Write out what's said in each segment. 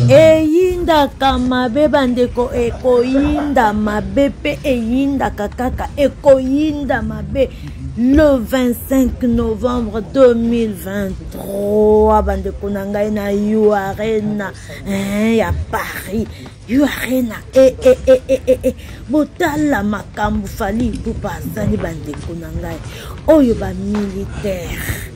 eyindaka mabe bandeko ekoyinda mabe mpe eyindaka kaka ekoyinda mabe le 25 novembre 2023 bandeko na ngai na u arena eh, ya paris u arena eh, eh, eh, eh, eh, eh. botala makambo fali ipupa azali bandeko na ngai oyo bamilitaire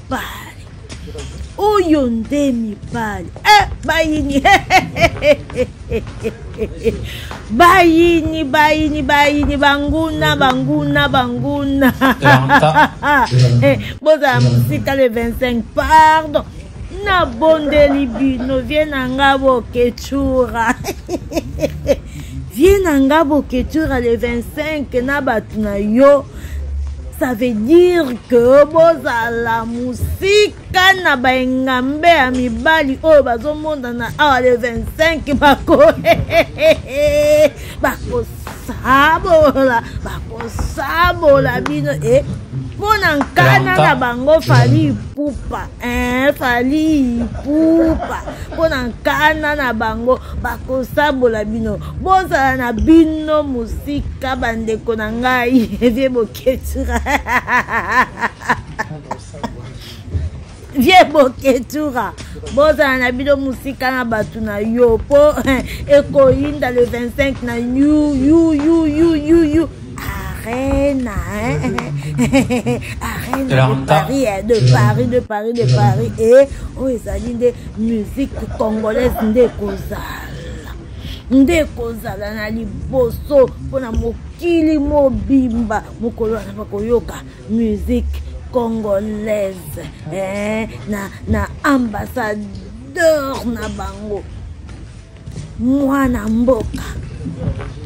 mibali oyo nde mibali eh, bayini bayini bayini bayini banguna banguna banguna eh, bozala mosika le 25 pardon nabondeli bino vie na nga boketsura vie na nga boketsura le 25 na bato na yo ça veut dire que bozala mosika na baengambe ya mibali oyo bazomonana awa le 25 bako bakosabola bakosabola bino e eh, mpo na nkana na bango fali pupa Eh, fali ipupa mpo na nkana na bango bakosabola bino bozala na bino mosika bandeko na ngai vie boketura vie boketura bozala na bino mosika na bato na yo mpo eh, ekoyinda le 25 na yu yu yu yu yu yu Arena, hein? Arena Alors, de Paris, hein, de Paris, de Paris, de Paris. Et oh, ezali nde musique congolaise nde kozala nde kozala na liboso mpo na mokili mobimba mokolo wana bakoyoka musique congolaise eh, na, na ambassadeur na bango mwana mboka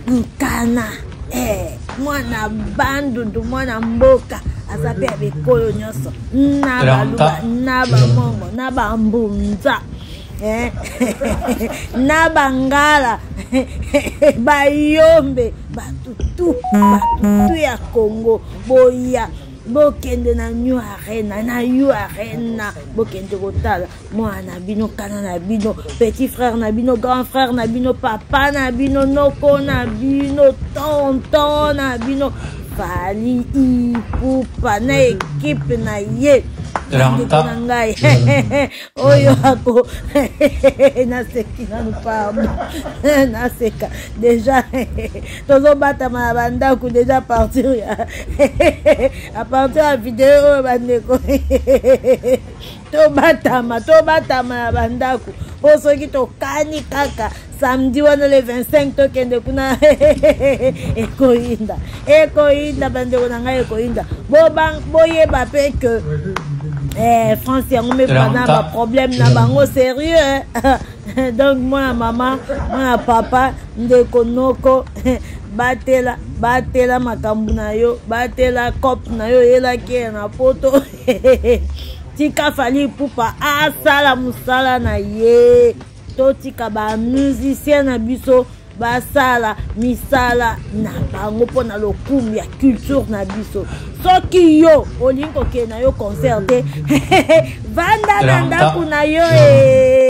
nkana eh, mwana bandundu mwana mboka aza mpe ya bikolo nyonso na baluba na bamongo na bambunza eh, na bangala bayombe batutu batutu ya congo boya bokende na new arena na u arena bokende kotala mwana na bino kana na bino petit frère na bino grand frère na bino papa na bino noko na bino tonton na bino fali ipupa na ekipe na ye ndeko na ngai oyo ako naseki nanu pamo naseka deja tozobatama na bandako deja apartir ya apartir ya video oyo bandeko tobatama tobatama na bandako mpo soki tokani kaka samedi wana le 25 tokende kuna ekoyinda ekoyinda bandeko na ngai ekoyinda boyeba mpe ke eh, france yango mibala na baproblème na bango sérieux donc mwana mama mwana papa ndeko noko batela batela makambo na yo batela cope na yo oyelaki na poto tika fali ipupa asala mosala na ye totika bamusicien na biso basala misala na bango mpo na lokumu ya culture na biso soki yo olingi kokende na yo concert te vanda na ndako na yo ee eh.